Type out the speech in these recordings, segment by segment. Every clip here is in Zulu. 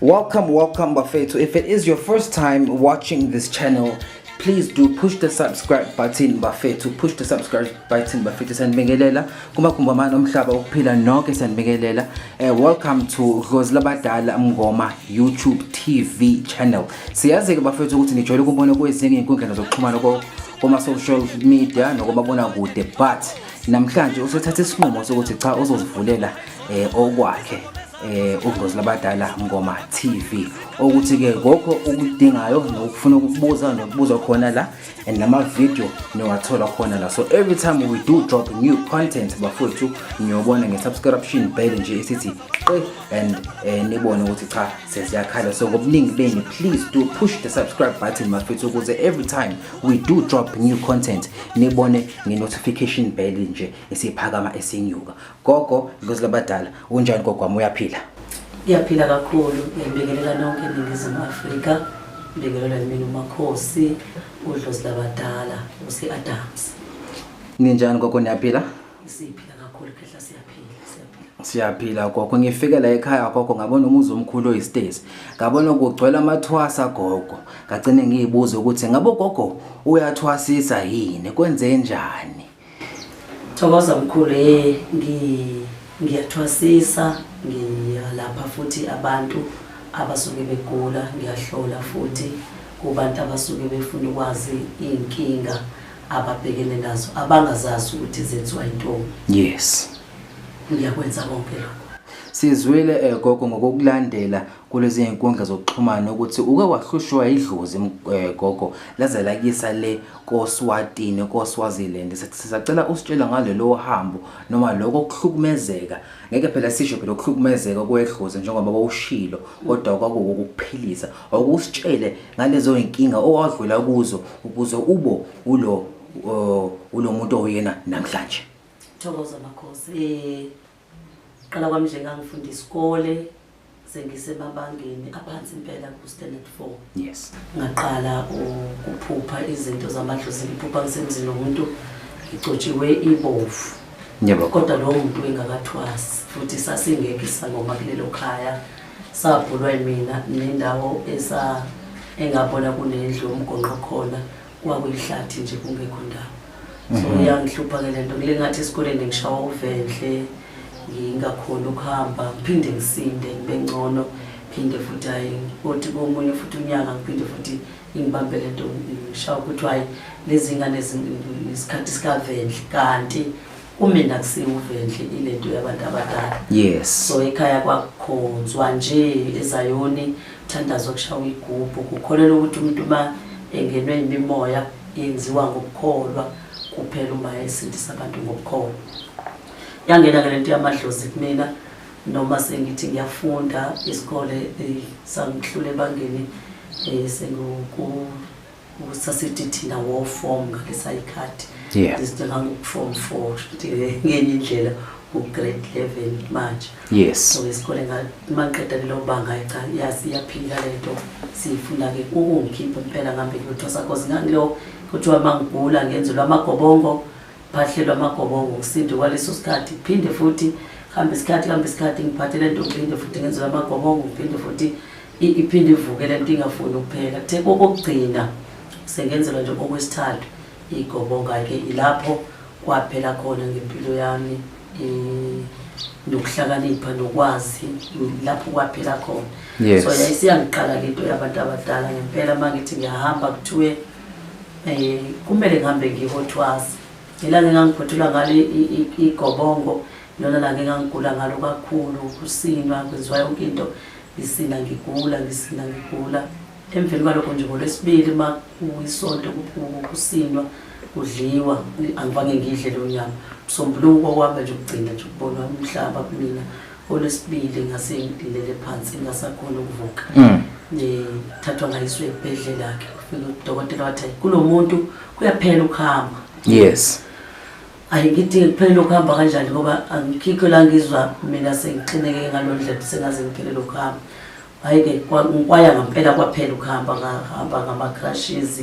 Welcome, welcome, Bafetu. If it is your first time watching this channel, please do push the subscribe button bafethu push the subscribe button bafethu sanibingelela kumagumbi amane omhlaba ukuphila nonke sanibingelela uh, eh, welcome to dlozi labadala mngoma youtube tv channel siyazi-ke bafethu ukuthi nijwayele ukubona kwezinye iy'nkundlana zokuxhumana koma-social media nokomabonakude but namhlanje usethatha isinqumo sokuthi cha uzozivulela um eh, okwakhe eh ugozi labadala ngoma TV okuthi ke konke ukudingayo nokufuna ukubuza nokubuza khona la and nama video niwathola khona la so every time we do drop new content bafowethu niyobona nge subscription bell nje isithi qe and eh, nibone ukuthi cha sesiyakhala so ngobuningi beni please do push the subscribe button bafowethu ukuze every time we do drop new content nibone nge notification bell nje esiphakama esinyuka Gogo Dlozi labadala unjani gogo wami uyaphila? Ngiyaphila kakhulu ngibingelela nonke eNingizimu Afrika ngibingelela mina uMakhosi uDlozi labadala uSi-Adams. Ninjani gogo niyaphila? Siphila kakhulu khehla siyaphila siyaphila. Siyaphila gogo ngifike la ekhaya gogo ngabona umuzi omkhulu oyistezi ngabona kugcwele amathwasa gogo ngagcine ngiyibuza ukuthi ngabe ugogo uyathwasisa yini kwenze njani Thokoza mkhulu eh ngiyathwasisa ngiyalapha futhi abantu abasuke begula ngiyahlola futhi kubantu abasuke befuna ukwazi iy'nkinga ababhekene nazo abangazazi ukuthi zenziwa intombi yes ngiyakwenza konke lokho sizwile eh, gogo ngokukulandela kulezi nkundla zokuxhumana ukuthi uke wahlushwa idlozi eh, gogo laze lakisa le koSwatini koSwaziland sisacela usitshela ngalelo hambo noma lokho kuhlukumezeka ngeke phela sisho phela ukuhlukumezeka kwedlozi njengoba wawushilo kodwa kwakuwukuphilisa awukusitshele ngalezo inkinga owadlula kuzo ukuze ubo ulo ulo muntu oyena namhlanje Thokoza makhosi eh Qala kwami nje ngangifunda isikole sengisemabangeni aphansi impela ku-standard four yes ngaqala ukuphupha izinto zamadlozi ngiphupha ngisemzini womuntu ngicotshiwe ibovu yebo kodwa lowo muntu engakathwasi futhi sasingekho isangoma kulelo khaya sabhulwa yimina nendawo esa engabona kunendlu umgonqo khona Kwakuyihlathi nje kungekho ndawo. So mhm. yangihlupha ke lento kule ngathi esikoleni ngishawa uvenhle ngingakhona ukuhamba ngiphinde ngisinde ngibe ngcono phinde futhi hayi othi komunye futhi unyaka ngiphinde futhi ingibambe le nto ngishawa ukuthi hhayi lezi ngane isikhathi sikavenhle kanti kumina kusiwuve nje ilento yabantu abadala yes so ekhaya kwakukhonzwa nje ezayoni thandazo kushawa igubhu kukholelwa ukuthi umuntu uma engenwe imimoya yenziwa ngokukholwa kuphela uma esindisa abantu ngokukholwa yangena ke lento yamadlozi kumina noma sengithi ngiyafunda isikole eh, sangihlule ebangeni eh, sengiku usasethethinda wofom ngalesa ikhathi ndizidinga ngokufom four ngenye indlela ugrade eleven manje yes so isikole maqeda lelo banga cha yazi iyaphila le nto siyifuna-ke ukungikhipha impela ngambe kuyothosa cause ngangilo kuthiwa uma ngigula ngenzelwa amagobongo phahlelwa amagobongo kusinde kwaleso sikhathi kuphinde futhi hambe isikhathi hambe isikhathi ngiphathele nto kuphinde futhi ngenzelwa amagobongo kuphinde futhi iphinde ivuke le nto ingafuni ukuphela kuthe kokokugcina sengenzelwa nje okwesithathu igobonga-ke ilapho kwaphela khona ngempilo yami nokuhlakanipha nokwazi lapho kwaphela khona yes. so yayisiyangiqala ke into yabantu abadala ngempela uma ngithi ngiyahamba kuthiwe um kumele ngihambe ngihothwazi ilanga engangiphothula ngalo igobongo lona langa engangigula ngalo kakhulu kusinwa kwenziwa yonke into Ngisinda ngigula, ngisinda ngigula. Emveni kwalokho nje ngolwesibili uma kuyisonto kusindwa kudliwa angifange ngidle lo nyama msombuluko kwaba nje ukugcina nje ukubona umhlaba kumina olwesibili ngase ngilele phansi ngasakhona ukuvuka mm. ngithathwa ngayiswe ebhedlela ke ufike udokotela wathi kulo muntu kuyaphela ukuhamba yes Hayi ngithi kuphelele ukuhamba kanjani ngoba angikhikho la ngizwa mina sengixineke ngalo ndlela sengaze ngiphelele ukuhamba hayi-ke ngikwaya ngampela kwaphela ukuhamba ngahamba ngama-crushes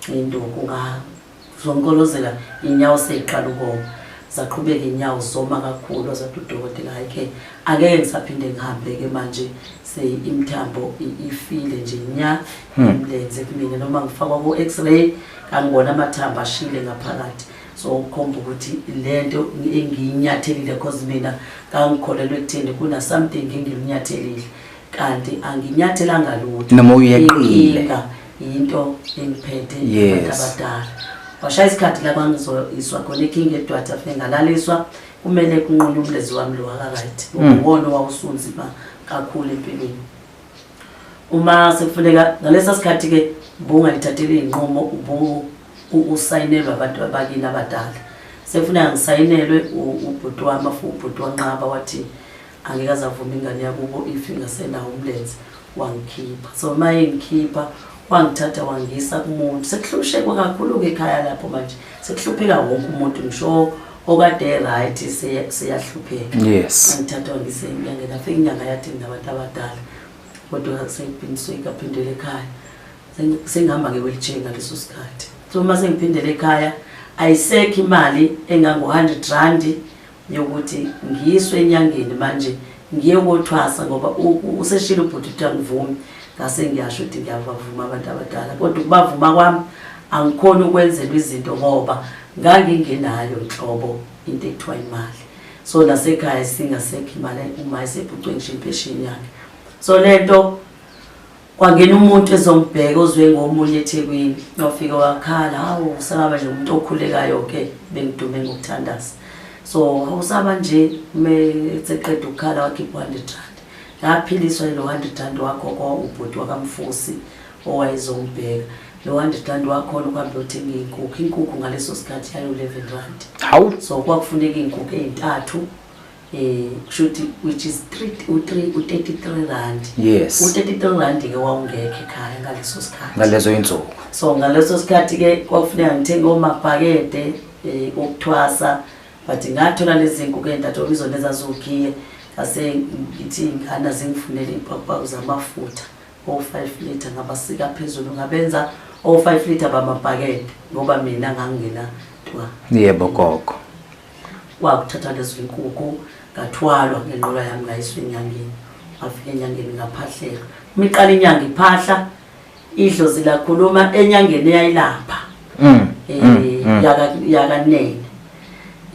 induku ngazonkolozela inyawo seyiqala ukoma zaqhubeka inyawo zoma kakhulu azathi udokotela hayi-ke angeke ngisaphinde ngihambe-ke manje seimthambo ifile nje nya hmm. imlenze kumina noma ngifakwa ku-x-ray kangibona amathambo ashile ngaphakathi so ukhomba ukuthi lento engiyinyathelile cause mina ngangikholelwa ekutheni kuna something engiyinyathelile kanti anginyathelanga lutho noma uyeqile yinto engiphethe abantu abadala washaya isikhathi la kwangizoyiswa khona ekinga edwatha fe ngalaliswa kumele kunqunye umlezi wami lo wakakayit hmm. uwona owawusunzima kakhulu empilweni uma sekufuneka ngalesa sikhathi-ke ubungalithathela iy'nqumo ubu usayinelwa abantu abakini abadala sekufuneka ngisayinelwe ubhuti wami afu ubhuti wanqaba wathi angeke azavuma ingane yakubo if ingasenawo umlenze wangikhipha so uma engikhipha wangithatha wangisa kumuntu sekuhlushekwa kakhulu-ke ekhaya lapho manje sekuhlupheka wonke umuntu ngisho okade right seyahlupheka yes angithatha wangisa enyangeni afike inyanga yathi nginabantu abadala kodwa seyiphindisoyikaphindela ekhaya sengihamba nge-wheelchair ngaleso sikhathi so uma sengiphindele ekhaya ayisekho imali engangu-hundred randi yokuthi ngiyiswe enyangeni manje ngiye kothwasa ngoba useshile ubhuti ukuthi angivumi ngase ngiyasho ukuthi ngiyabavuma abantu abadala kodwa ukubavuma kwami angikhoni ukwenzelwa izinto ngoba ngangingenayo nhlobo into ekuthiwa imali so nasekhaya singasekho imali uma esephucwe ngisho impesheni yakhe so le nto kwangena umuntu ezongibheka ozwe ngomunye ethekwini wafike wakhala hawu usaba nje umuntu okhulekayo ke bengidume ngokuthandaza so usaba nje meseqeda ukukhala wakhipha u-hundred rand laphiliswa yilo hundred rand wakho kwaubhuti wakamfusi owayezongibheka lo hundred rand wakhona ukuhambe uyothenga iy'nkukhu inkukhu ngaleso sikhathi yayo-eleven rand hawu so kwakufuneka iy'nkukhu ey'ntathu Eh, kushuthi which is 3 u33 rand yes u33 rand ke wawungekho ekhaya ngaleso sikhathi ngalezo insuku so ngaleso sikhathi ke kwakufuneka ngithenge omabhakede eh okuthwasa but ngathola lezinku ke ndathola izona ezazogiye ngase ngithi ngana zingifunele impakupako zamafutha o5 liter ngabasika phezulu ngabenza o5 liter bamabhakede ngoba mina ngangingena twa yebo gogo Kwakuthatha lezo inkukhu ngathwalwa ngenqola yami ngayiswa enyangeni ngafika enyangeni ngaphahlelwa uma iqala inyanga iphahla idlozi lakhuluma enyangeni eyayilapha mm, eh, mm, mm. yakanene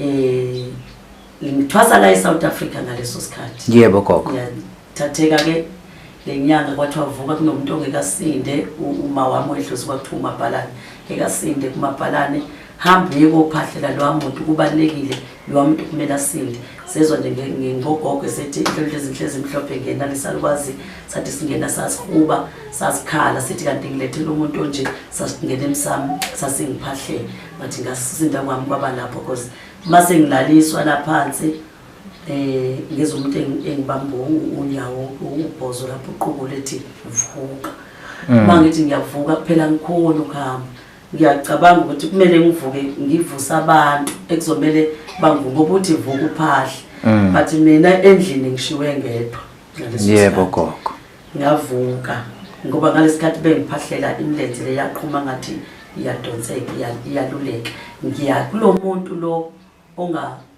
um eh, ngithwasa la e-south africa ngaleso sikhathi yebo gogo thatheka ke lenyanga kwathi wavuka kunomuntu ongekasinde uma wami wedlozi kwakuthiwa umabhalane ngekasinde kumabhalane hamba uye kophahlela lowa muntu kubalulekile lowa muntu kumele asinde sezwa nje ngingogogo esethi inhlonhlo ezinhle ezimhlophe ngena lisalukwazi sathi singena sasihuba sasikhala sithi kanti ngilethela umuntu onje sasingena emsami sasingiphahlele ngathi ngasisinda kwami kwaba lapho cause uma sengilaliswa laphansi eh ngizwe umuntu engibamba unyawo ubhozo lapho uqubu lethi vuka mm. uma ngithi ngiyavuka kuphela ngikhona ukuhamba ngiyacabanga ukuthi kumele ngivuke ngivuse abantu ekuzomele bangivuke ukuthi vuka uphahle mm. but mina endlini ngishiwe ngedwa yebo gogo ngavuka ngoba ngalesikhathi bengiphahlela imilenze leyaqhuma ngathi iyadonseka iyaluleka ngiya kulo muntu lo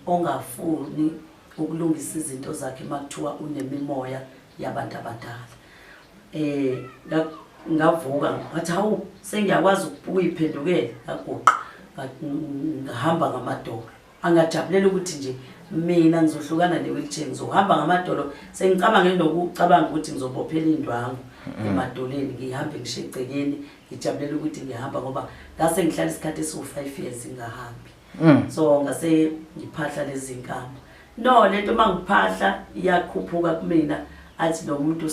ongafuni ukulungisa izinto zakhe uma kuthiwa unemimoya yabantu abadala um ngavuka ngathi hawu sengiyakwazi ukuyiphendukela ngaguqa ngahamba ngamadolo angajabulela ukuthi nje mina ngizohlukana ne-wheelchair ngizohamba ngamadolo sengicabange nokucabanga ukuthi ngizobophela indwangu emadoleni ngihambe ngisho egcekeni ngijabulela ukuthi ngihamba ngoba ngase ngihlala isikhathi esiwu-five years ngingahambi Mm. so ngase ngiphahla lezinkamba no lento uma ngiphahla iyakhuphuka kumina athi lo muntu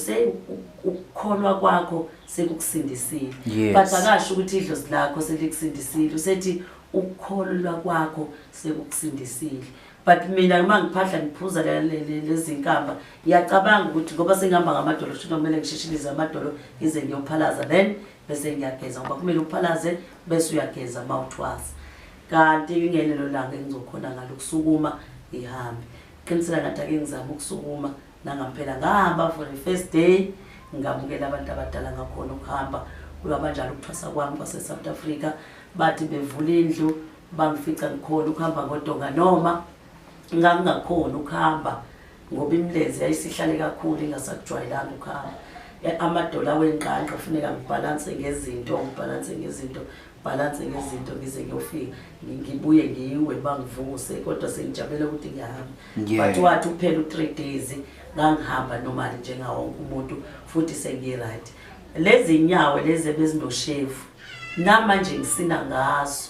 ukukholwa kwakho sekukusindisile yes. but akasho ukuthi idlozi lakho selikusindisile usethi ukukholwa kwakho sekukusindisile but mina uma ngiphahla ngiphuza lezinkamba ngiyacabanga ukuthi ngoba sengihamba ngamadolo shuthi kumele ngishishilize amadolo ngize ngiyophalaza then bese ngiyageza ngoba kumele uphalaze bese uyageza mouthwash kanti ingelelo langa engizokhona ngalo ukusukuma ngihambe qiniseka ngathi ake ngizame ukusukuma nangampela ngahamba for the first day ngamukela abantu abadala ngakhona ukuhamba kulwaba njalo ukuthwasa kwami kwase-south africa bathi bevula indlu bangifica ngikhona ukuhamba ngodonga noma ngangingakhona ukuhamba ngoba imlezi yayisihlale kakhulu ingasakujwayelanga ukuhamba e, amadola wenqanqa kufuneka ngibhalanse ngezinto ngibhalanse ngezinto ngibhalanse ngezinto ngize ngiyofika ngibuye ngiwe bangivuse kodwa sengijabele ukuthi ngiyahamba but wathi uphela u-three days ngangihamba nomali njengawonke umuntu futhi sengi-right lezi nyawo lezi ebezinoshevu namanje ngisina ngazo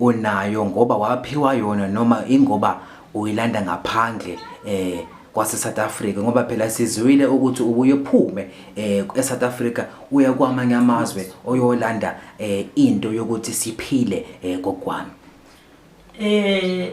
unayo ngoba waphiwa yona noma ingoba uyilanda ngaphandle eh kwase South Africa ngoba phela sizwile ukuthi ubuye phume eh eSouth Africa uya kwamanye amazwe oyolanda eh into yokuthi siphile eh kokwami eh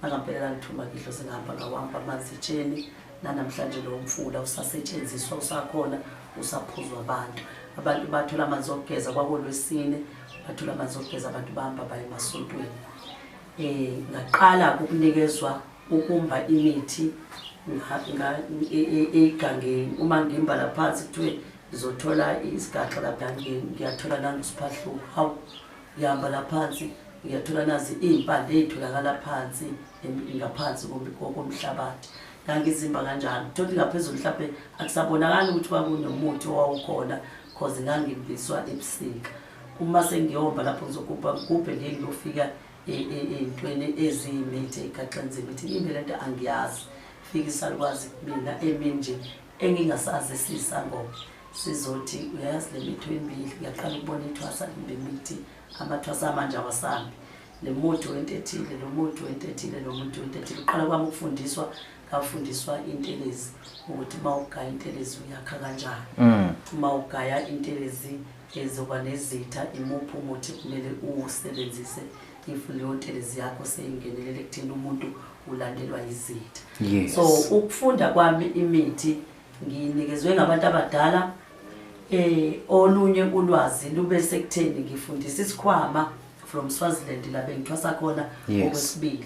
Nakampela lalithuma ngidlo singahamba ngawamba amanzi etsheni nanamhlanje lowo mfula usasetshenziswa usakhona usaphuzwa abantu abantu bathola amanzi okugeza kwakolwesine bathola amanzi okugeza abantu bahamba baye emasontweni um ngaqala ukunikezwa ukumba imithi e, e, egangeni uma ngimbala phansi kuthiwe ngizothola isigaxa lapha ngiyathola nangusiphahluko hawu Ngihamba la phansi ngiyathola nazi iy'mpande ey'tholakala phansi ngaphansi komhlabathi ngangizimba kanjalo thothi ngaphezulu mhlawumbe akusabonakali ukuthi kwakunomuthi owawukhona cause ngangibiswa ebusika uma sengiyomba lapho ngizogubha ngigubhe ngiye ngiyofika ey'ntweni e, e, eziyimithi egaxenzima ithi imbe le nto angiyazi fika isalukwazi kumina eminje engingasazi siyisangoma sizothi uyayazi le mitho emibili ngiyaqala ukubona ithwasa kumbe imithi amathwasa amanje awasambi le muthi wento ethile lo muthi wento ethile lo muthi wento ethile uqala kwami ukufundiswa ngafundiswa intelezi ukuthi uma ugaya intelezi uyakha kanjani mm. uma ugaya intelezi ezoba nezitha imuphi umuthi kumele uwusebenzise if leyo ntelezi yakho seyingenelele ekutheni umuntu ulandelwa yizitha yes. so ukufunda kwami imithi nginikezwe ngabantu abadala eh olunye ulwazi lube sekutheni ngifundisa isikhwama from Swaziland la bengithwasa khona okwesibili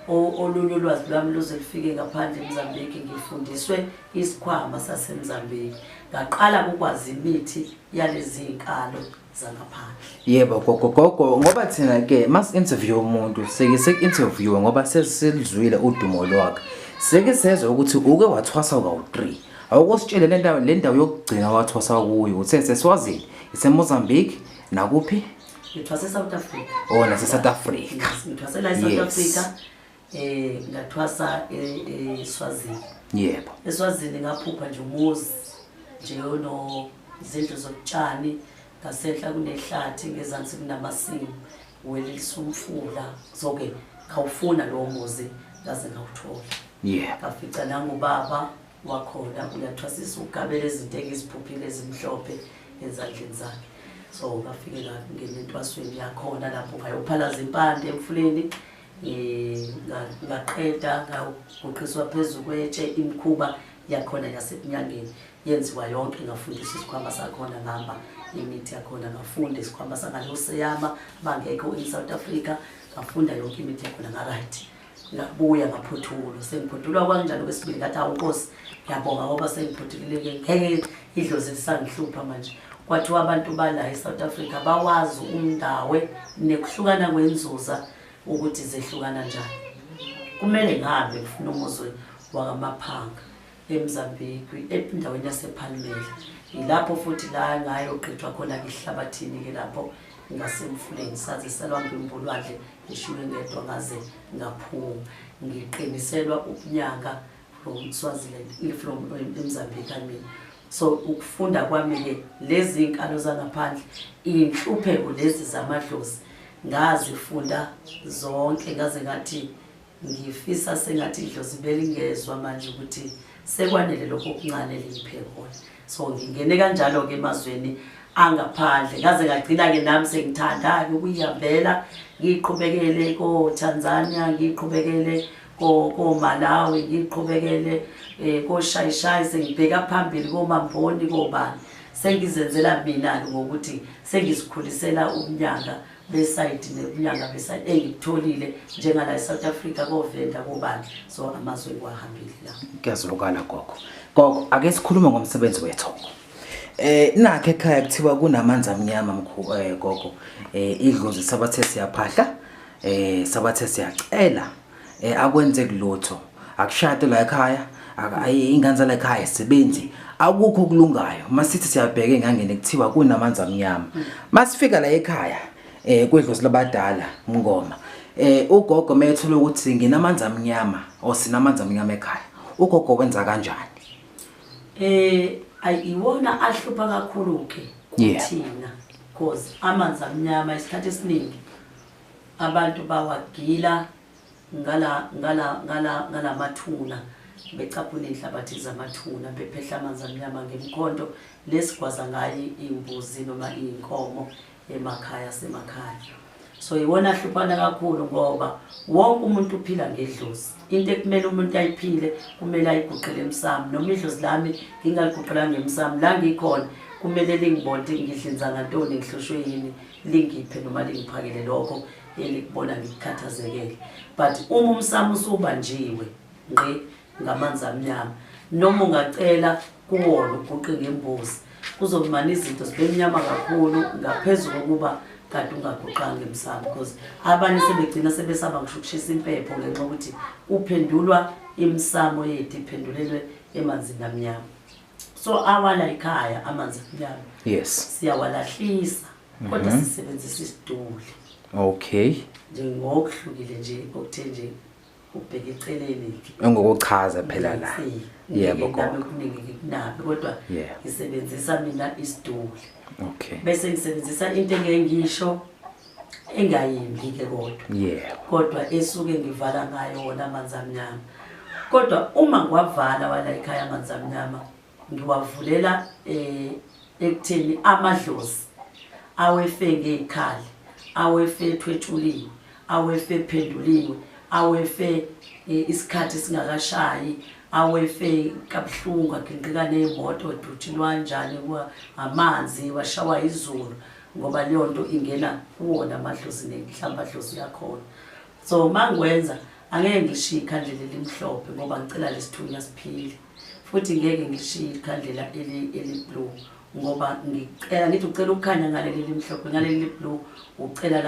olunye ulwazi lwami luze lufike ngaphandle eMozambique ngifundiswe isikhwama saseMozambique ngaqala ukwazi imithi yalezi nkalo yebo gogo gogo ngoba thina ke mas interview umuntu seke sek interview ngoba sesilizwile udumo lwakhe seke sezwe ukuthi uke wathwasa kawu3 awukusitshele le ndawo le ndawo yokugcina wathwasa kuyo uthe sesiwazile iseMozambique nakuphi ngithwase South Africa oh nase South Africa ngithwase la South Africa eh ngathwasa eSwazini eh, eh, yebo eSwazini ngaphupha nje umuzi nje no izindlu zokutshani ngasenhla kunehlathi ngezansi kunamasimu welisa umfula soke ngawufuna lowo muzi ngaze ngawuthola yebo ngafica nangubaba wakhona uyathwasisa ugabela izinto engiziphuphile ezimhlophe ezandleni zakhe so ngafike ngangena entwasweni yakhona lapho ngayophalaza impande emfuleni ngaqeda ngaguqiswa phezu kwetshe imikhuba yakhona yasebunyangeni yenziwa yonke ngafundisa isikhwama sakhona ngihamba imithi yakhona ngafunda isikhwama sangaloseyama bangekho in-south africa ngafunda yonke imithi yakhona ngaright ngabuya ngaphothulwa sengiphothulwa kwanjalo kwesibili ngathi awunkosi ngiyabonga ngoba sengiphothulile ngeke idlozi lisangihlupha manje kwathiwa abantu bala eSouth Africa bawazi umndawe nekuhlukana kwenzuza ukuthi zehlukana njani kumele ngabe ngifuna umuzwe wakamaphanga eMzambiki endaweni yasePhalmela yilapho futhi la ngayo qithwa khona ngihlabathini ke lapho ngasemfuleni saze salwamba imbulwadle ngishiywe ngedwa ngaze ngaphuma ngiqiniselwa ukunyanga from Swaziland from eMzambia I mean so ukufunda kwami ke lezi inkalo zangaphandle inhlupheko lezi zamadlozi ngazifunda zonke ngaze ngathi ngifisa sengathi idlozi belingezwa manje ukuthi sekwanele lokho okuncane liphe khona so ngingene kanjalo-ke emazweni angaphandle ngaze ngagcina-ke nami sengithanda-ke ukuyihambela ngiqhubekele kotanzania ngiqhubekele komalawi ngiqhubekele um eh, koshayishayi sengibheka phambili komamboni kobani sengizenzela mina-ke ngokuthi sengizikhulisela umnyaka besayidi nebuyanga besayidi engikutholile njengala eSouth Africa kovenda kobani so amazwe kwahambile la kuyazulukana gogo gogo ake sikhulume ngomsebenzi wethu Eh nakhe ekhaya kuthiwa kunamanzi amnyama mkhulu eh gogo eh idlozi sabathe siyaphahla eh sabathe siyacela eh akwenzeki lutho akushade la ekhaya ayi ingane zala ekhaya sebenzi akukho kulungayo masithi siyabheka engangene kuthiwa kunamanzi amnyama masifika la ekhaya eh kwedlozi labadala mngoma eh ugogo methule ukuthi nginamanzi amnyama or sinamanzi amnyama ekhaya ugogo wenza kanjani eh ayiwona ahlupha kakhulu ke kuthina because amanzi amnyama isikhathi esiningi Abantu bawagila ngala ngala ngala ngalamathuna becaphuna inhlabathi zamathuna bephehla amanzi amnyama ngemkhonto lesigwaza ngayo imbuzi noma inkomo emakhaya semakhaya so iwona ahluphana kakhulu ngoba wonke umuntu uphila ngedlozi into ekumele umuntu ayiphile kumele ayiguqele emsamo noma idlozi lami ngingaliguqela ngemsamo la ngikhona kumele lingibonde ngidlinza ngantoni ngihlushwe yini lingiphe noma lingiphakele lokho elikubona ngikukhathazekele but uma umsamo usubanjiwe ngqi ngamanzi amnyama noma ungacela kuwona uguqe ngembuzi kuzomana izinto zibe mnyama kakhulu ngaphezu kokuba kade ungaguqanga emsamo because abanye sebegcina sebesaba ngisho ukushisa impepho ngenxa yokuthi kuphendulwa imisamo yethu iphendulelwe emanzini amnyama so awala ikhaya amanzi aphilayo yes siyawalahlisa kodwa Mhm. sisebenzisa isiduli okay nje ngokuhlukile nje okuthe nje ubheke eceleni engokuchaza phela la yebo gogo yebo kuningi kunabe kodwa Yeah. ngisebenzisa mina isiduli okay bese ngisebenzisa into engeke ngisho engayimbi ke kodwa yeah. kodwa esuke ngivala ngayo wona amanzi amnyama kodwa uma ngiwavala wala ekhaya amanzi amnyama ngiwavulela eh ekutheni amadlozi awefe ngezikhali awefe ethwetshuliwe awefe ephenduliwe awefe e, isikhathi singakashayi awefe kabuhlungu agingqika nemoto duthinwa njani amanzi washawa izulu ngoba leyo nto ingena kuwona amadlozi nenhlamba dlozi yakhona so uma ngikwenza angeke ngilishiye ikhandlela elimhlophe ngoba ngicela lesithunya siphile futhi ngeke ngilishiye ikhandlela eliblue ngoba ngicela ngithi ucela ukukhanya ngaleli limhlophe ngaleli liblue ucela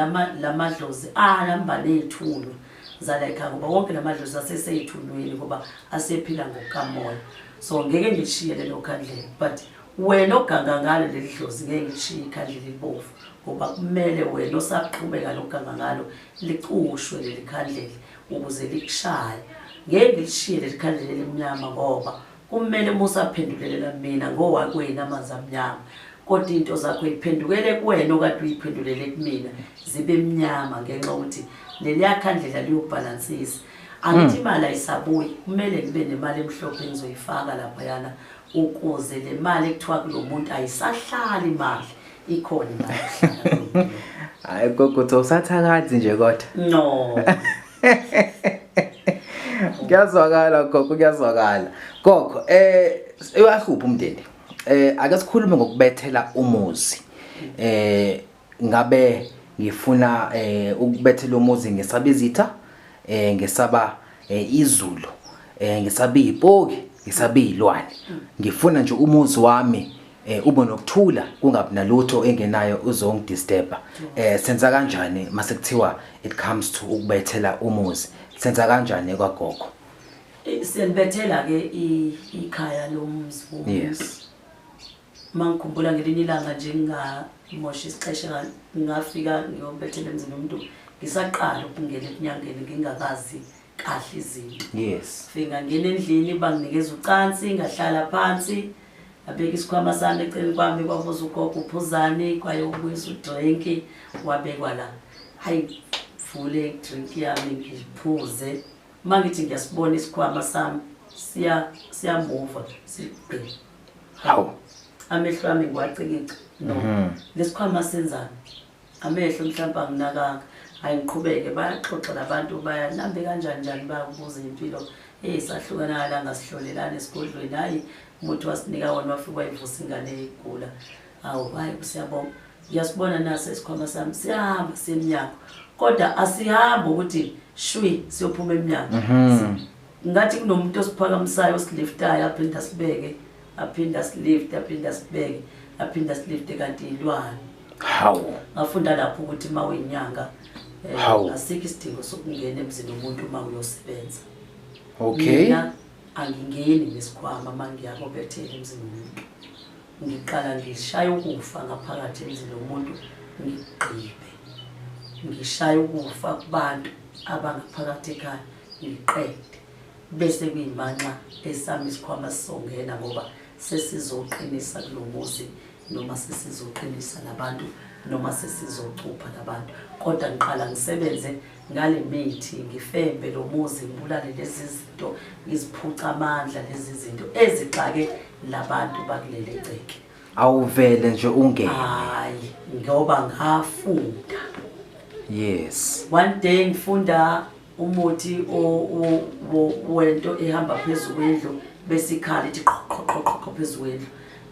lamadlozi alambane ey'thunywa zalayikhaya ngoba wonke la madlozi asesey'thunyweni ngoba asephila ngokukamoya so ngeke ngilishiye lelo khandlela but wena oganga ngalo leli dlozi ngeke ngishiye ikhandlela elibomvu ngoba kumele wena osaqhubeka lokuganga ngalo licushwe leli khandlela ukuze likushaye ngeke ngilishiye leli khandlela elimnyama ngoba kumele uma usaphendulelela mina ngowakwena amanzi amnyama kodwa into zakho iphendukele kuwena okade uyiphendulele kumina zibe mnyama ngenxa yokuthi leliya khandlela liyobhalansisa angithi hmm. imali ayisabuyi kumele ngibe nemali emhlophe engizoyifaka laphayana ukuze le mali ekuthiwa kulo muntu ayisahlali imali ikhona imali yokuhlala hayi gogothi usathakathi nje kodwa no kuyazwakala gogo kuyazwakala gogo eh uyahlupha umndeni eh ake sikhulume ngokubethela umuzi eh ngabe ngifuna eh ukubethela umuzi ngesaba izitha eh ngesaba eh, izulu eh ngesaba ipoki ngesaba izilwane ngifuna nje umuzi wami eh ube nokuthula kungabi nalutho engenayo uzongidisturba eh senza kanjani mase kuthiwa it comes to ukubethela umuzi senza kanjani kwagogo Eh, siyalibethela ke i- ikhaya lomzi womuntu. yes Uma ngikhumbula ngelinye ilanga nje ngingamosha isixesha ngingafika ngiyobethela emzini womuntu ngisaqala ukungena ekunyangeni ngingakazi kahle izinto yes fika ngena endlini banginikeza ucansi ngahlala phansi abeka isikhwama sami eceleni kwami kwabuza ugogo uphuzani kwaye ubuyisa udrinki wabekwa la hayi ngivule idrink yami ngiphuze uma ngithi ngiyasibona isikhwama sami siyamuva sigqi hawu amehlo ami ngiwacikica no mhm. lesikhwama senzani amehlo mhlawumbe anginakanga hayi ngiqhubeke bayaxoxa labantu bayalambe kanjani njani bayakubuza impilo eyi sahlukana ngalanga sihlolelana esigodlweni hhayi umuthi wasinika wona wafike wayivusa ingane igula hawu hhayi kusiyabonga ngiyasibona naso isikhwama sami siyahamba semnyango kodwa asihambi ukuthi shwi siyophuma emnyango mhm. ngathi kunomuntu osiphakamisayo osiliftayo aphinde asibeke aphinde asilifte aphinde asibeke aphinde asilifte kanti yilwane hawu ngafunda lapho ukuthi uma uyinyanga eh, asikho isidingo sokungena emzini womuntu uma uyosebenza okay mina angingeni ngesikhwama uma ngiyako bethele emzini womuntu ngiqala ngishaya ukufa ngaphakathi emzini womuntu ngigqibe ngishaya ukufa kubantu abangaphakathi ekhaya ngiqede bese kuyimanxa esami isikhwama sizongena ngoba sesizoqinisa kulo muzi noma sesizoqinisa labantu noma sesizocupha labantu kodwa ngiqala ngisebenze ngale mithi ngifembe lo muzi ngibulale lezi zinto ngiziphuca amandla lezi zinto ezixake labantu bakuleli gceke awuvele nje ungene hayi ngoba ngafunda yes one day ngifunda umuthi wento ehamba phezu kwendlu bese ikhala ithi qhoqhoqhoqho phezu kwendlu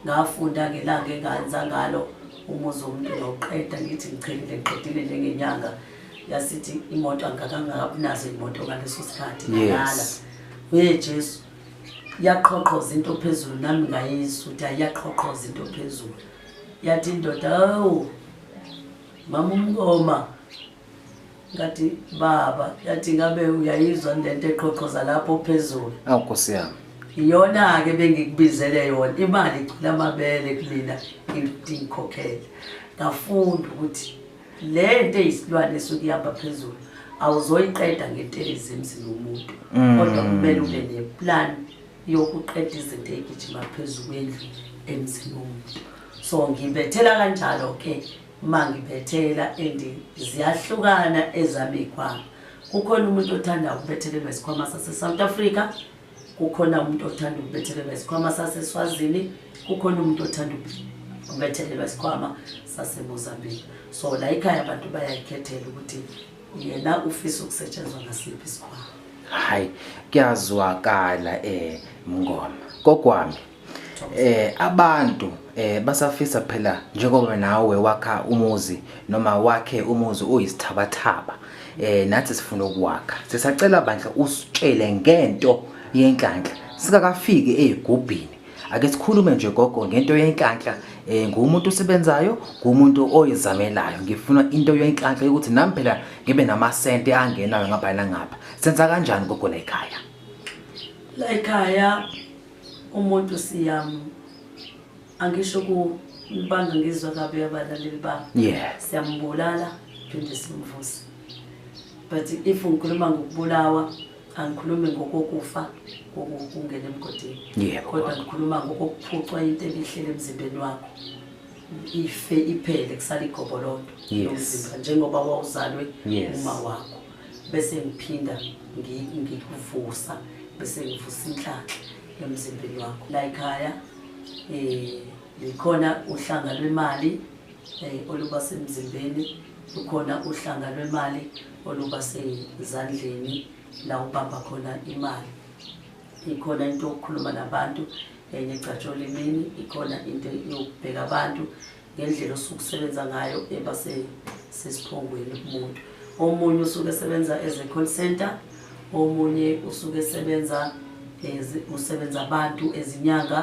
ngafunda ngelanga enganza ngalo umuzi womuntu noqeda ngithi ngichelile ngiqedile njengenyanga yasithi imoto angikakangabinazo imoto ngaleso sikhathi ngala wee jesu yaqhoqhoza into phezulu nami ngayizwa ukuthi ayiyaqhoqhoza into phezulu yathi indoda awu mama umkoma ngathi baba yathi ngabe uyayizwa lento eqhoqhoza lapho phezulu awu nkosi yami iyona ke bengikubizele yona imali icula amabele kumina ngidikhokhele ngafunda ukuthi le nto eyisilwane esuke ihamba phezulu awuzoyiqeda ngentelezi emzini womuntu mm. kodwa kumele ube neplan yokuqeda izinto eyigijima phezulu kwendlu emzini womuntu so ngibethela kanjalo ke uma ngiphethela and ziyahlukana ezami iy'khwama kukhona umuntu othanda ukubethelelwa isikhwama sase-south africa kukhona umuntu othanda ukubethelelwa isikhwama saseswazini kukhona umuntu othanda ukubethelelwa isikhwama sasemozambique so la ikhaya abantu bayayikhethela ukuthi yena ufisa ukusetshenzwa ngasiphi isikhwama hhayi kuyazwakala um mngoma kokwami eh abantu eh basafisa phela njengoba nawe wakha umuzi noma wakhe umuzi uyisithabathaba eh nathi sifuna ukuwakha sisacela bandla usitshele ngento yenhlanhla sikakafiki ezigubhini ake sikhulume nje gogo ngento yenhlanhla eh ngumuntu osebenzayo ngumuntu oyizamelayo ngifuna into yenhlanhla ukuthi nami phela ngibe namasente angenayo ngapha nangapha senza kanjani gogo la ekhaya la ekhaya umuntu siyamu angisho kubanga ngizwa kabi abalaleli bami yeah siyambulala phinde simvuse but if ngikhuluma ngokubulawa angikhulumi ngokokufa kokungena emgodini yeah kodwa ngikhuluma ngokuphucwa into ebihlele emzimbeni wakho ife iphele kusala igobolondo yomzimba njengoba wawuzalwe uma wakho bese ngiphinda ngikuvusa bese ngivusa inhlanhla emzimbeni wakho la ekhaya eh likhona uhlanga lwemali eh, oluba semzimbeni lukhona uhlanga lwemali oluba sezandleni la ubamba khona imali ikhona into yokukhuluma nabantu enye eh, gcatsholimini ikhona into yokubheka abantu ngendlela osuke usebenza ngayo eba sesiphongweni kumuntu omunye usuke esebenza as a call center omunye usuke esebenza usebenza abantu ezinyanga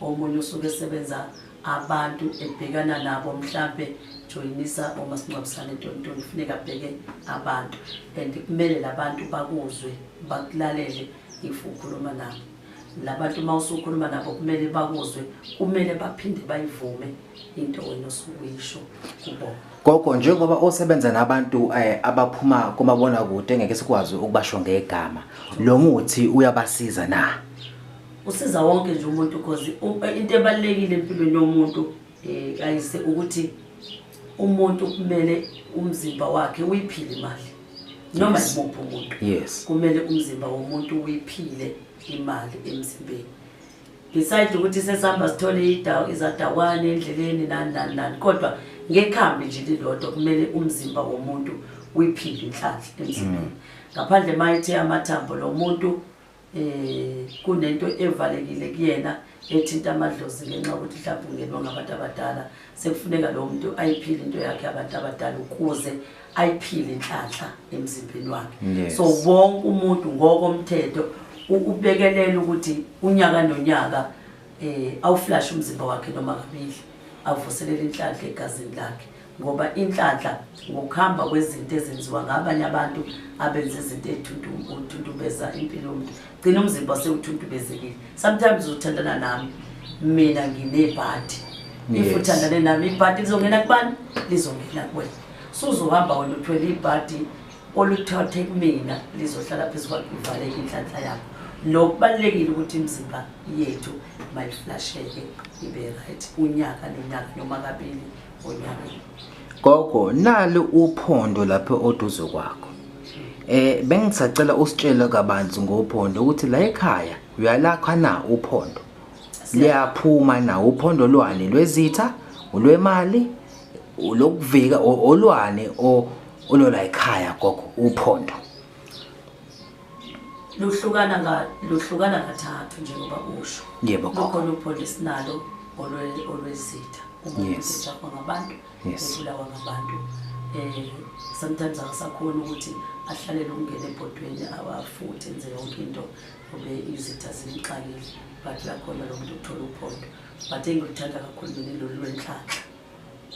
omunye usuke esebenza abantu ebhekana nabo mhlampe joyinisa omasingcwabisane ntontoni kufuneka abheke abantu and kumele labantu bakuzwe bakulalele if ukhuluma nabo labantu uma usukhuluma nabo kumele bakuzwe kumele baphinde bayivume into wena osukuyisho kubona gogo njengoba osebenza nabantu eh, abaphuma kumabona kude ngeke sikwazi ukubasho ngegama lo muthi uyabasiza na usiza wonke nje umuntu because into ebalekile empilweni yomuntu um kayise ukuthi umuntu kumele umzimba wakhe uyiphile imali noma yimuphi umuntu yes kumele umzimba womuntu uyiphile imali emzimbeni beside ukuthi sesihamba sithole idawo izadawane endleleni nani nani nani kodwa ngekhambi nje lilodwa kumele umzimba womuntu uyiphile inhlanhla emzimbeni mm. ngaphandle mayithe amathambo lo muntu eh kunento evalekile kuyena ethinta amadlozi ngenxa ukuthi mhlawumbe ungenwa ngabantu abadala sekufuneka lowo muntu ayiphile into yakhe abantu abadala ukuze ayiphile inhlanhla emzimbeni wakhe so wonke umuntu ngokomthetho ukubekelela ukuthi unyaka nonyaka um awuflashe umzimba wakhe noma kabili avuselele inhlanhla egazini lakhe ngoba inhlanhla ngokuhamba kwezinto ezenziwa ngabanye abantu abenza izinto ey'thuntumbeza impilo yomuntu gcina umzimba sewuthuntubezekile sometimes uthandana nami mina nginebhadi if uthandane nami ibhadi lizongena kubani lizongena kuwena suzohamba wena uthwele ibhadi oluthathe kumina lizohlala phezu kwakhe uvaleke inhlanhla yakho nokubalulekile ukuthi imizimba yethu mayiflasheke ibe right unyaka nonyaka noma kabili Gogo nali uphondo lapho oduze kwakho. Eh bengisacela usitshele kabanzi ngophondo ukuthi la ekhaya uyalakha na uphondo. Liyaphuma na uphondo lwani lwezitha, ulwemali, lokuvika olwane o olola ekhaya gogo uphondo. luhlukana nga luhlukana kathathu njengoba usho yebo kukhona upolice nalo olwezitha yes. ngabantu yes. ebulawa ngabantu eh sometimes akasakhona ukuthi ahlalele ukungena ebhodweni awafuthe enze yonke into kube izitha zimxakile but lakhona lo muntu uthola uphondo but engikuthanda kakhulu mina lolu lwenhlanhla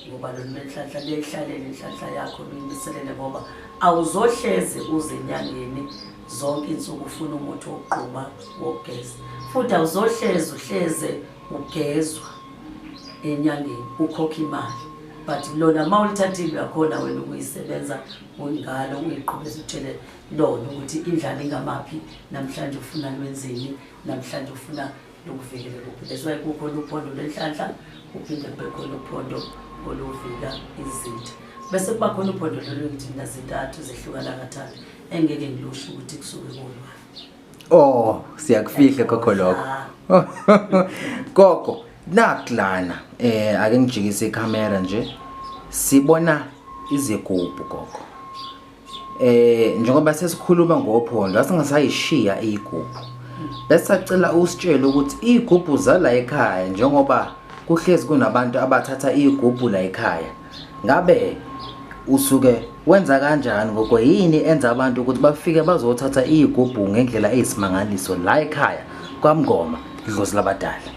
ngoba lolu lenhlanhla liyayihlalele inhlanhla yakho luyimiselele ngoba awuzohlezi uze enyangeni zonke insuku ufuna umuthi wokugquma wokugeza futhi awuzohlezi uhleze ugezwa enyangeni ukhokha imali but lona uma ulithathile uyakhona wena ukuyisebenza ngalo uyiqhubeza utshele lona ukuthi indlala ingamaphi namhlanje ufuna lwenzeni namhlanje ufuna nokuvikela kuphi that's why kukhona uphondo lwenhlanhla kuphinde kube khona uphondo oluvika izinto bese kuba khona uphondo lolu ngithi mina zintathu zehlukana kathathu engeke ngilusho ukuthi kusuke kulwa oh siyakufihla kokho lokho gogo nakulana eh ake ngijikise ikhamera nje sibona izigubhu gogo Eh njengoba sesikhuluma ngophondo asingasayishiya igubhu. Bese sacela usitshele ukuthi igubhu zala ekhaya njengoba kuhlezi kunabantu abathatha igubhu la ekhaya. Ngabe usuke wenza kanjani ngoko yini enza abantu ukuthi bafike bazothatha igubhu ngendlela eyisimangaliso la ekhaya kwaMngoma idlozi labadala.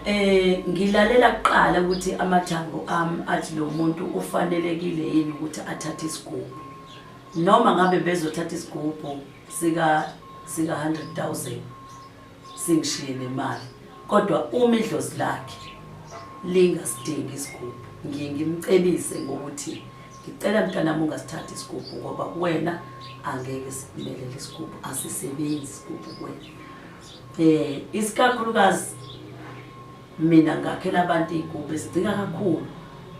Eh ngilalela kuqala ukuthi amathambo ami athi lo muntu ufanelekile yini ukuthi athathe isigubhu. Noma ngabe bezothatha isigubhu sika sika 100,000 singishiye nemali. Kodwa uma idlozi lakhe lingasidingi isigubhu ngiye ngimcebise ngokuthi ngicela mntanami ungasithathi isigubhu ngoba kuwena angeke simelele isigubhu asisebenzi isigubhu kuwena. eh isikakhulukazi mina ngakhela abantu igubhe sidinga kakhulu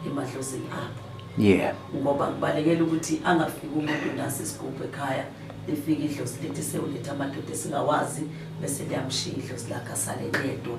emadlozini apho yeah ngoba kubalekela ukuthi angafiki umuntu nase sigubhe ekhaya lifike idlozi lithi sewuletha amadoda esingawazi bese liyamshiya idlozi lakhe asale yedwa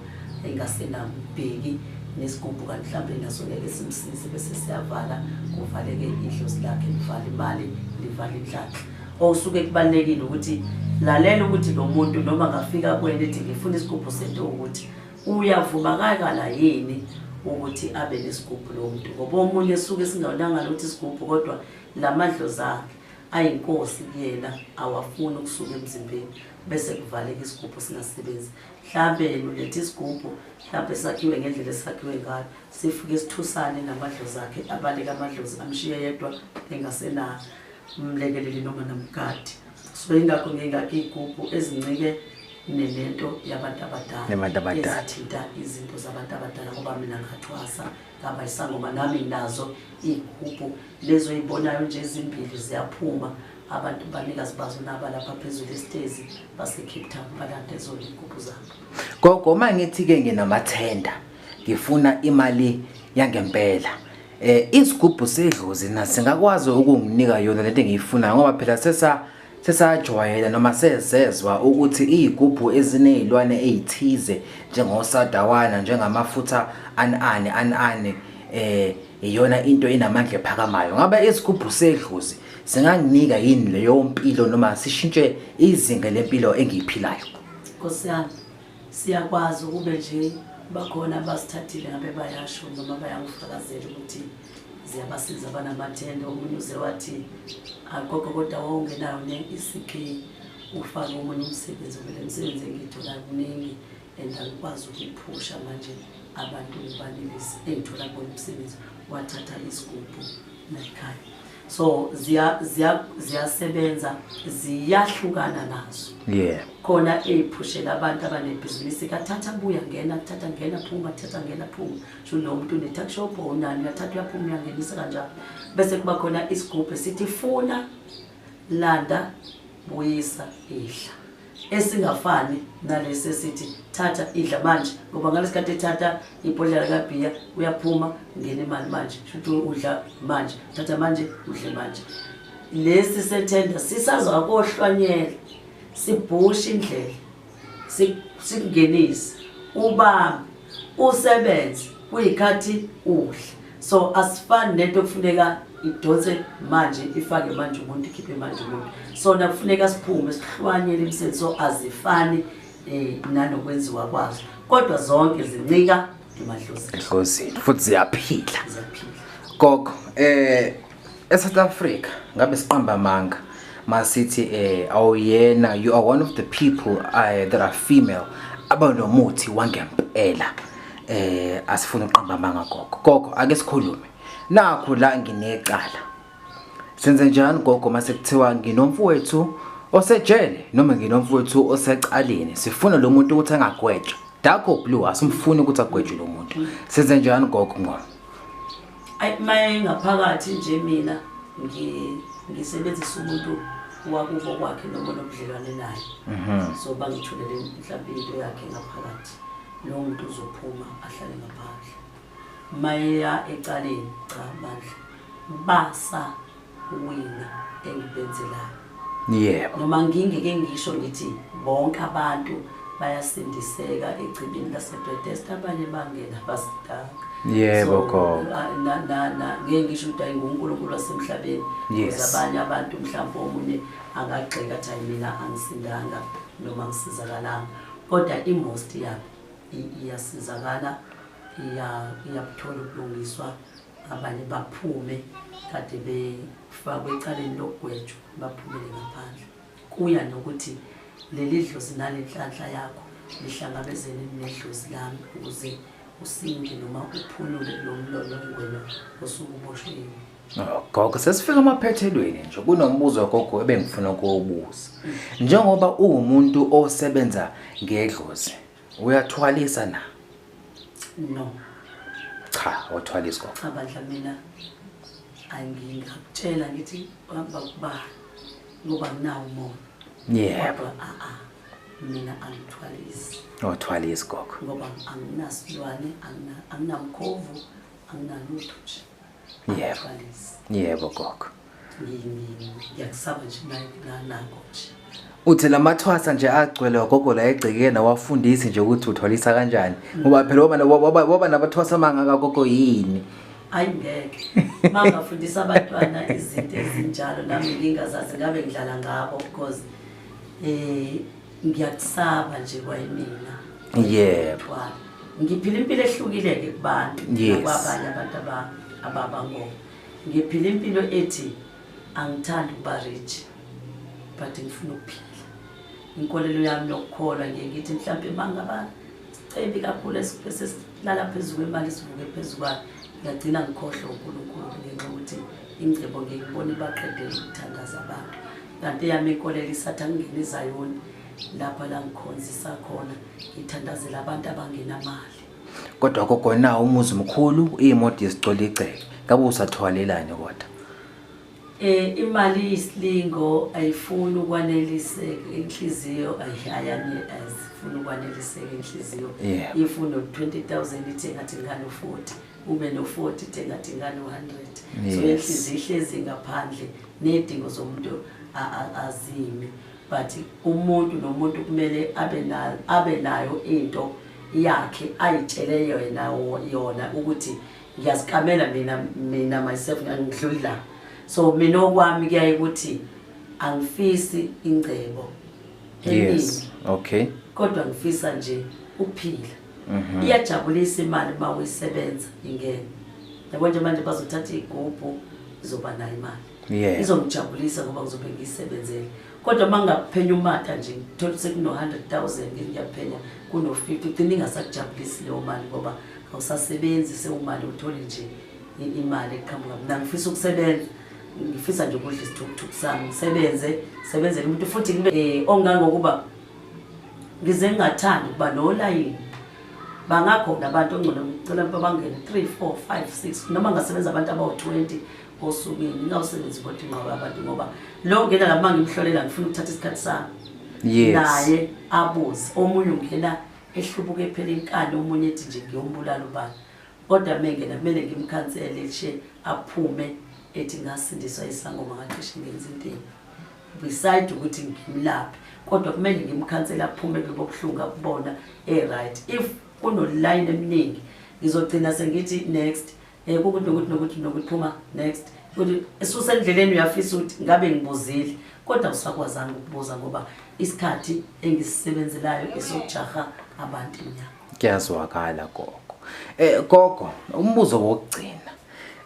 engasenambheki nesigubhu kanti mhlawumbe naso ngeke simsize bese siyavala kuvaleke idlozi lakhe livala imali livala inhlanhla Okusuke kubalulekile ukuthi lalela ukuthi lo muntu noma ngafika kwena ethi ngifuna isigubhu sento ukuthi uyavuma kakala yini ukuthi abe nesigubhu lo muntu ngoba omunye suke singawonanga lokuthi isigubhu kodwa la madlozi akhe ayinkosi kuyena awafuni ukusuka emzimbeni bese kuvaleka isigubhu singasebenzi mhlawumbe yena uletha isigubhu mhlawumbe sakhiwe ngendlela esakhiwe ngayo sifike sithusane namadlozi akhe abaleke amadlozi amshiye yedwa engasenayo umlekeleli noma nomgadi so ingakho ngingakho iy'gubhu ezincike nenento yabantu abadalaezithinta izinto zabantu abadala ngoba mina ngathwasa ngaba isangoma nami nazo iy'gubhu lezo oy'bonayo nje ezimbili ziyaphuma abantu banikazi bazo naba lapha phezulu esitezi basecape town balanda ezona iy'gubhu zabo gogo uma ngithi-ke nginamathenda ngifuna imali yangempela eh isigubhu sedlozi na singakwazi ukunginika yona lento engiyifunayo ngoba phela sesa sesajwayela noma sezezwa ukuthi izigubhu ezinezilwane ezithize njengosadawana njengamafutha anani anani eh iyona into enamandla ephakamayo ngabe isigubhu sedlozi singanginika yini leyo mpilo noma sishintshe izinga lempilo engiyiphilayo Nkosi yami Siyakwazi ukube nje bakhona abasithathile ngabe bayasho noma bayakufakazela ukuthi ziyabasiza banamathende omunye uze wathi agogo kodwa wawungenayo ne-ecp ufake omunye umsebenzi kumele msebenzi engiyithola kuningi and angikwazi ukuyiphusha manje abantu ngibanelisi engithola bona umsebenzi wathatha isigubhu nayikhaya so ziyasebenza ziyahlukana nazo yeah khona eyiphushela abantu abanebhizinisi kathatha buya ngena kuthatha ngena phuma thatha ngena phuma sho lo muntu ne-tuck shop onani uyathatha uyaphuma uyangenisa kanjalo bese kuba khona isigubhu sithi funa Landa, buyisa, idla. Esingafani nalesi esithi thatha idla manje ngoba ngalesikhathi ethatha ibhodlela kabhiya uyaphuma ngena imali manje shuthi udla manje thatha manje udle manje lesi sethenda sisazokohlwanyela sibhushe indlela sikungenise ubambe usebenze kuyikhathi udla so asifani nento okufuneka idonse manje ifake manje umuntu ikhiphe manje umuntu sona kufuneka siphume sihlwanyele imisebenzi so azifani um nanokwenziwa kwazo kodwa zonke zincika emadlozini futhi ziyaphila gogo um eSouth Africa ngabe siqamba amanga masithi eh awuyena you are one of the people uh, that are female abanomuthi wangempela eh asifuna uqamba amanga gogo gogo ake sikhulume nakho la nginecala senze njani gogo mase kuthiwa nginomfowethu osejele noma nginomfowethu osecaleni sifuna lo muntu ukuthi angagwetshwa dakho blue asimfuni ukuthi agwetshwe lo muntu senze njani gogo ngoba Ayi maye ngaphakathi nje mina ngi- ngisebenzisa umuntu wakubo kwakhe noma onobudlelwane naye Mhm. so bangithulele mhlawumbe into yakhe ngaphakathi lowo muntu uzophuma ahlale ngaphandle mayeya ecaleni cha bandla basa wena engibenzelayo yebo noma ngingeke ngisho ngithi bonke abantu bayasindiseka echibini lasebethesda abanye bangena basidaka yebo gogo ngeke ngisho ukuthi ayingunkulunkulu wasemhlabeni yes. abanye abantu mhlawumbe omunye angagxeka athi ayi mina angisindanga noma ngisizakalanga kodwa imost yabo iyasizakala iyakuthola ukulungiswa abanye baphume kade befakwe ecaleni lokugwetshwa baphumele ngaphandle kuya nokuthi leli dlozi nalenhlanhla yakho lihlangabezene nedlozi lami ukuze usinde noma uphulule lo mlono wena osukuboshweni gogo sesifika emaphethelweni nje kunombuzo gogo ebengifuna ukuwubuza njengoba uwumuntu osebenza ngedlozi Uyathwalisa na? No. Cha, wathwalisa gogo. Cha bandla mina angingakutshela ngithi uhamba kuba ngoba nginawo umoya. Yebo. Yeah. Ah ah. Mina angithwalisi. Wathwalisa gogo. Ngoba anginasilwane, anginamkhovu, anginalutho nje. yebo yebo gogo ngiyakusaba nje nanako nje uthi lamathwasa nje agcwele wagogo la egcekeni awafundisi nje ukuthi uthwalisa kanjani ngoba phela waba waba nabathwasa mangaka gogo yini hayi ngeke mangafundisa abantwana izinto ezinjalo nami ngingazazi ngabe ngidlala ngabo because eh ngiyakusaba nje kwayimina yebo yeah. ngiphila impilo ehlukile-ke kubantu yes. nakwabanye abantu ababa ngo ngiphila impilo ethi angithandi ukuba rich but ngifuna ukuphila inkolelo yami nokukholwa ngiye ngithi mhlawumpe mangaba sicebi kakhulu esesilala phezu kwemali sivuke phezu kwayo ngiyagcina ngikhohlwe unkulunkulu ngenxa yokuthi ingcebo ngiyikubona ibaqedela ukuthandaza abantu Kanti yami inkolelo isatha ngingena izayoni lapha la ngikhonzisa khona ngithandazela abantu abangenamali. Kodwa gogo na umuzi mkhulu imoto yesicoli igceke. Kabe usathwalelani kodwa? Eh imali isilingo ayifuni ukwaneliseka inhliziyo ayihayani ayifuni ukwaneliseka inhliziyo. Yeah. Ifuna 20000 ithi ngathi ngalo 40 ube no 40 ithi ngathi ngalo 100. So Yes. inhliziyo ihlezi ngaphandle Ney'dingo zomuntu azimi but umuntu nomuntu kumele abe nayo into yakhe ayitshele yona yona ukuthi ngiyazikamela mina mina myself ngidluli la so mina okwami kuyaye ukuthi angifisi ingcebo yes okay kodwa ngifisa nje ukuphila mhm. iyajabulisa imali uma uyisebenza ingene yabo nje manje bazothatha iy'gubhu izoba nayo imali yeah. izongijabulisa ngoba ngizobe ngiyisebenzele kodwa uma ngaphenya umata nje ngithola ukuthi kuno-hundred thousand ngiyaphenya kuno-fifty ugcina ingasakujabulisi leyo mali ngoba awusasebenzi sewumali uthole nje imali eqhamuka mna ngifisa ukusebenza ngifisa nje ukudla isithukuthuku sami ngisebenze sebenzele umuntu futhi um ongangokuba ngize ngingathandi ukuba nolayini bangakhona abantu ongcono ngicela ukuba bangene 3 4 5 6 noma ngasebenza abantu abawu-20 osukwini ngingawusebenzi kodwa ingqobo abantu ngoba lo ngena lama ngimhlolela ngifuna ukuthatha isikhathi sami yes. naye abuze omunye ungena ehlubuke phela inkani omunye ethi nje ngiyombulala ubani kodwa mengena kumele ngimkhansele she aphume ethi ngasindiswa isangoma ngacishe ngenza intini beside ukuthi ngimlaphe kodwa kumele ngimkhansela aphume kubobuhlungu akubona e-right if kunoline eminingi ngizogcina sengithi next um kukuthi nokuthi nokuthi nokuthi phuma next ukuthi esusendleleni uyafisa ukuthi ngabe ngibuzile kodwa usakwazanga ukubuza ngoba isikhathi engisisebenzelayo esokujaha abantu emnyango kuyazwakala gogo um gogo umbuzo wokugcina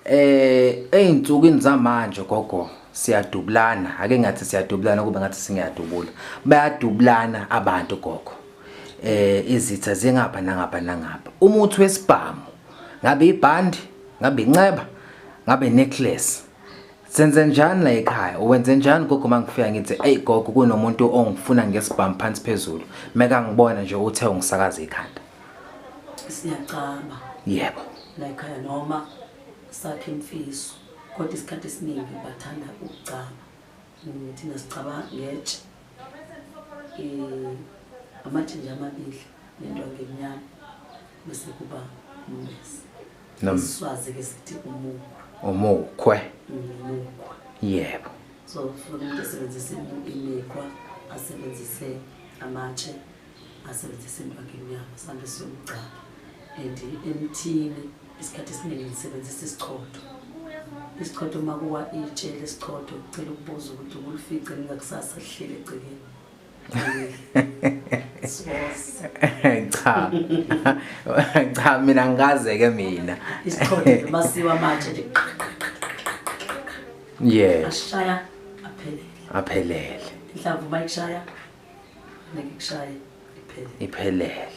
Eh ezinsukwini zamanje gogo siyadubulana ake ngathi siyadubulana kube ngathi singiyadubula bayadubulana abantu gogo eh izitha zingapha nangapha nangapha umuthi wesibhamu ngabe ibhandi ngabe inceba ngabe necklace senze njani la ekhaya uwenze njani gogo mangifika ngithi hey gogo kunomuntu ongifuna ngesibhamu phansi phezulu meka ngibona nje uthe ungisakaza ikhanda siyacaba yebo layikhaya noma sakhe imfiso kodwa isikhathi esiningi bathanda ukucaba Mm, thina sicaba ngetshe Eh, amathinja amabili nento ngemnyama bese kuba umbesi Nom- iswazi-ke sithi umukhwa umukhwe Mm, umukhwa yebo so funa umuntu esebenzise imu- imikhwa asebenzise amatshe ngasebenzisa emibhakeni yami sande siyomgcaba and emthini isikhathi esiningi ngisebenzisa isichotho isichotho uma kuwa itshe lesichotho kucela ukubuza ukuthi ukulifice ningakusasa lihlele egcekeni cha cha mina ngikaze ke mina isichotho masiwa manje nje yeah ashaya aphelele aphelele inhlamvu bayishaya ngikushaye iphele iphelele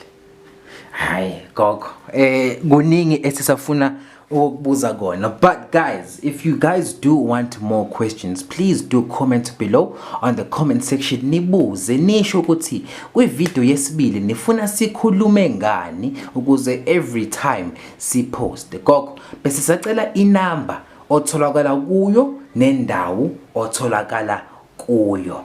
hayi gogo eh kuningi esisafuna ukubuza kona but guys if you guys do want more questions please do comment below on the comment section nibuze nisho ukuthi kwi video yesibili nifuna sikhulume ngani ukuze every time si post gogo bese sacela inamba otholakala kuyo nendawo otholakala kuyo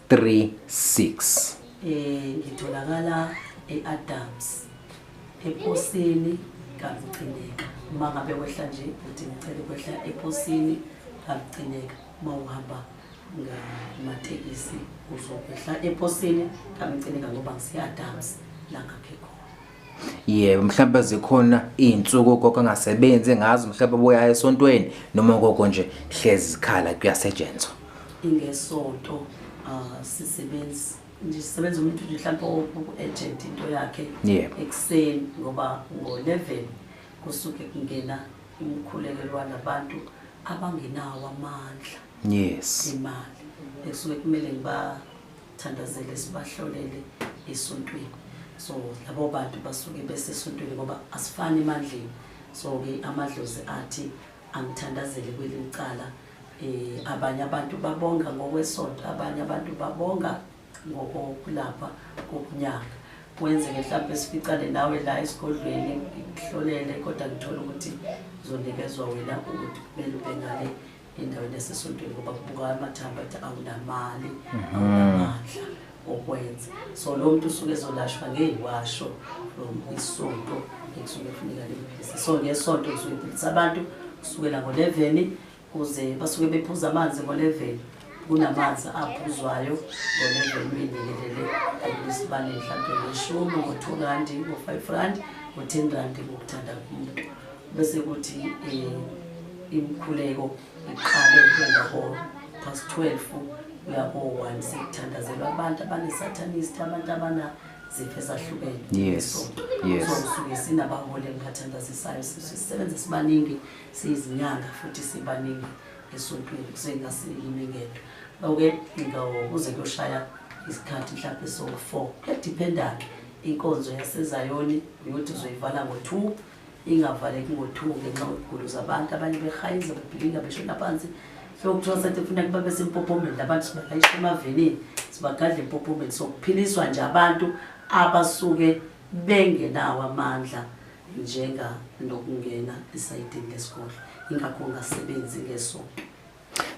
36 eh ngitholakala eAdams eposini kalucineka uma ngabe wehla nje uthi ngicela ukwehla eposini kalucineka uma uhamba ngamatekisi uzokwehla eposini kalucineka ngoba ngiseAdams la ngakhe khona yebo mhlawumbe zikhona izinsuku ugogo angasebenzi ngazo mhlawumbe boya esontweni noma ugogo nje hlezi zikhala kuyasetshenzwa ingesonto uh, sisebenzi nje sisebenza umuntu nje mhlawumbe oku-agent into yakhe yebo ekuseni ngoba ngo-11 kusuke kungena umkhulekelo walabantu abangenawo amandla yes imali ekusuke kumele ngiba thandazele sibahlolele esontweni so labo bantu basuke besesontweni ngoba asifani emandleni so-ke amadlozi athi angithandazele kwelinye cala um eh, abanye abantu babonga ngokwesonto abanye abantu babonga ngokokulapha kokunyanga kwenzeke mhlawumbe sificane nawe la esigodlweni ngikuhlolele kodwa ngithole ukuthi uzonikezwa wena ukuthi kumele ube ngale endaweni yasesontweni ngoba kubuka amathambo athi awunamali mhm. awunamandla okwenza so lo muntu usuke ezolashwa ngeyiwasho from isonto ekusuke kufuneka limphilise so ngesonto kusuke iphilisa abantu kusukela ngoleveni kuze basuke bephuza amanzi ngoleveni kunamanzi aphuzwayo ngoleveni uyinikelele ayilesibane mhlawumbe ngeshumi ngo-two randi ngo-five randi ngo-ten randi ngokuthanda kumuntu bese kuthi um imikhuleko iqale njengaho past 12 uyakowa sekuthandazelwa abantu abanesatanist abantu abanazifo ezahlukene yes yes so suke sinabaholi engibathandazisayo sisebenza sibaningi siyizinyanga futhi sibaningi esontweni kusengasilimi ngento oke ngikuze kuyoshaya isikhathi mhlawumbe so-four kuyadiphenda-ke inkonzo yasezayoni uyothi uzoyivala ngo-two ingavaleki ngo-two ngenxa kwezigulo zabantu abanye behayiza bebhilinga beshona phansi so kuthiwa sathi kufuneka babe sempophomeni abantu sibalayisha emavenini sibagadla empophomeni so kuphiliswa nje abantu abasuke bengenawo amandla njenga nokungena esayidini lesigodlo ingakho ungasebenzi ngesonto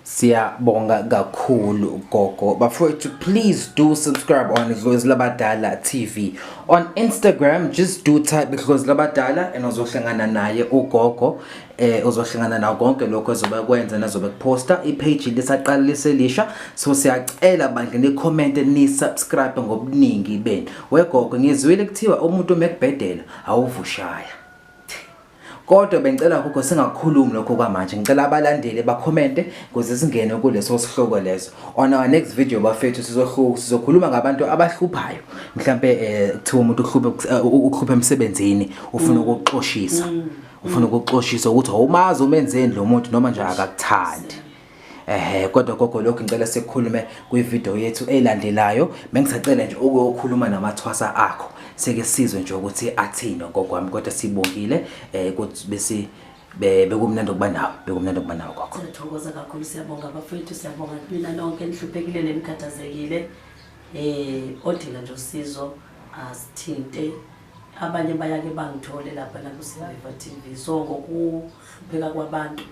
siyabonga kakhulu gogo bafowethu please do subscribe on idlozi labadala tv on instagram just do type idlozi labadala and uzohlangana naye ugogo eh uzohlangana nawo konke lokho ezobe kwenza nazobe kuposta ipage lisaqala liselisha so siyacela bandla ni comment ni subscribe ngobuningi benu wegogo ngizwile kuthiwa umuntu mekubhedela awuvushaya Kodwa bengicela gogo singakhulumi lokho kwamanje. Ngicela abalandeli bakhomente kuze singene kuleso sihloko leso. On our next video bafethu sizohluka sizokhuluma ngabantu abahluphayo. Mhlambe eh, kuthiwa umuntu uhluphe eh, uhluphe emsebenzini ufuna mm. ukuxoshisa. Mm. Ufuna ukuxoshisa ukuthi awumazi umenzeni lo muntu noma nje akakuthandi. ehe kodwa gogo lokhu ngicela sikhulume kwivideo yethu elandelayo bengisacela nje ukuyokhuluma namathwasa akho seke sizwe nje ukuthi athini gogo wami kodwa sibongile eh ukuthi bese bekumnandi ukuba nawe bekumnandi ukuba nawe gogo sithokoza kakhulu siyabonga bafowethu siyabonga mina nonke nihluphekile nemkhathazekile eh odinga nje usizo asithinte abanye bayake bangithole lapha nakusiviva TV so ngokuhlupheka kwabantu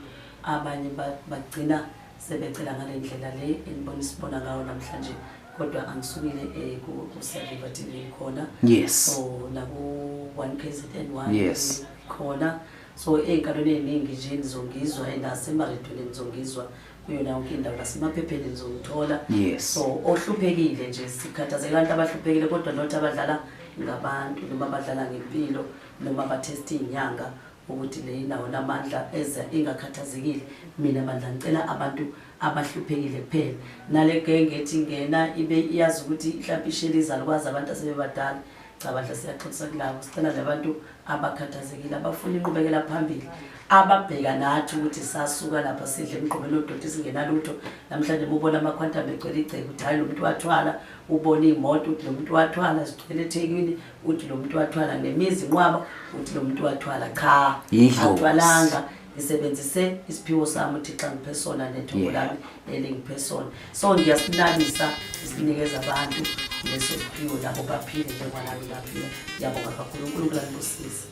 abanye bagcina sebecela ngale ndlela le enibona isibona ngawo namhlanje kodwa angisukile eh, kusaviva t v khona yes so naku-one k z n one yes khona so ey'nkalweni ey'ningi nje nizongizwa and asemaredweni nizongizwa kuyona yonke indawo nasemaphepheni nizongithola yes so ohluphekile nje sikhathazeka abantu abahluphekile kodwa not abadlala ngabantu noma abadlala ngempilo noma abathesta iy'nyanga ukuthi le indawo namandla eza ingakhathazekile mina bandla ngicela abantu abahluphekile kuphela nale genge ethi ngena ibe iyazi ukuthi mhlawumbe isheli izalukwazi abantu asebebadala cha bandla siyaxolisa kulabo sicela labantu abakhathazekile abafuna inqubekela phambili ababheka nathi ukuthi sasuka lapha sidle emgqomeni odoti singenalutho namhlanje mubona amakhwantam egcwele igceke ukuthi hhayi lo muntu wathwala ubona iy'moto ukuthi lo muntu wathwala zigcwele ethekwini uthi lo muntu wathwala nemizi inqwaba uthi lo muntu wathwala cha athwalanga ngisebenzise isiphiwo sami uthixo angiphe sona nethongo lami elingiphe sona so ngiyasinabisa isinikeza abantu leso siphiwo labo baphile njengoba nami ngaphila ngiyabonga kakhulu unkulunkulu anibusise